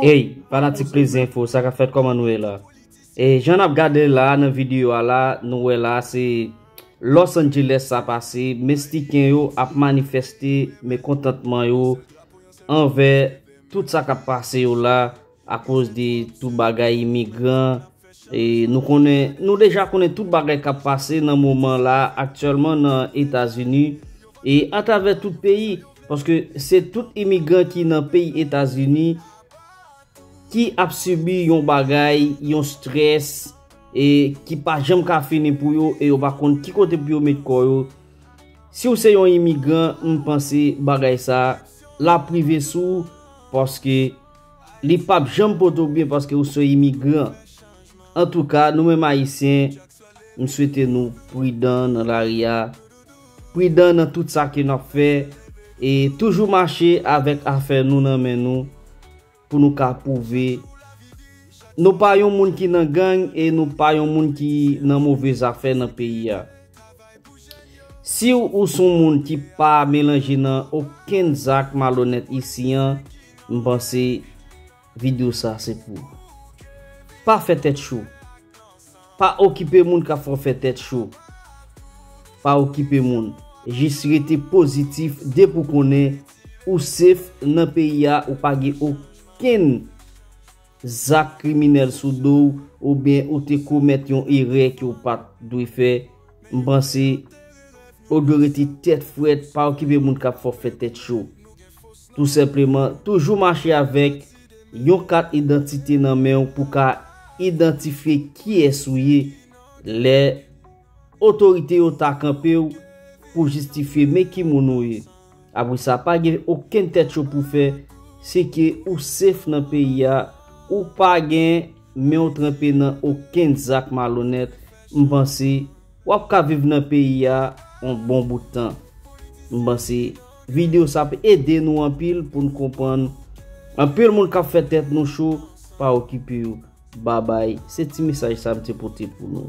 Hey fanatik plezi info sa kap fèt kòman nou ye la e jan nap gade la nan video a la nou wè la se Los Angeles sa pase mestiken yo ap manifeste mekontantman yo anvè tout sa kap pase yo la akoz de tout bagay imigran Nou konnen, nou deja konnen tout bagay kap pase nan moman la aktyèlman nan Etazini e atravè tout peyi paske se tout imigran ki nan peyi Etazini ki ap sibi yon bagay, yon strès e ki pa janm ka fini pou yo e yo pa konn ki kote pou yo met kò yo. Si w se yon imigran, m panse bagay sa l ap rive sou w paske. Li pap janm pote w byen paske ou son imigran. Antouka, nou menm Ayisyen, m swete nou pridan nan lari a, pridan nan tout sa ke n ap fè, e toujou mache avèk afè nou nan men nou pou nou ka pwouve nou pa yon moun ki nan gang e nou pa yon moun ki nan move zafè nan peyi a. Si ou son moun ki pa melanje nan okenn zak malonèt isi an, M panse video sa se pou ou. Pa fè tèt cho. Pa okipe moun kap fè w fè tèt cho. Pa okipe moun. Jis rete pozitif depi w konnen ou safe nan peyi a ou pa gen okenn zak kriminèl sou do w oubyen ou te komèt yon erè ke w pat dwe fè, m panse ou dwe rete tèt frèt, pa okipe moun kap fè w fè tèt cho. Tou senpleman, toujou mache avèk yon kat idantite nan men w pou ka idantifye kiyès ou ye lè Otorite yo ta kanpe w pou jistifye men ki moun ou ye. Apre sa pa gen okenn tèt cho pou fè, se ke ou sef nan peyi a, ou pa gen men w tranpe nan okenn zak malonèt, m panse w ap ka viv nan peyi a on bon bout tan. M panse video sa ap ede nou anpil pou n konprann anpil moun k ap fè tèt nou cho pa okipe yo. Babay, se ti mesaj sa m te pote pou nou.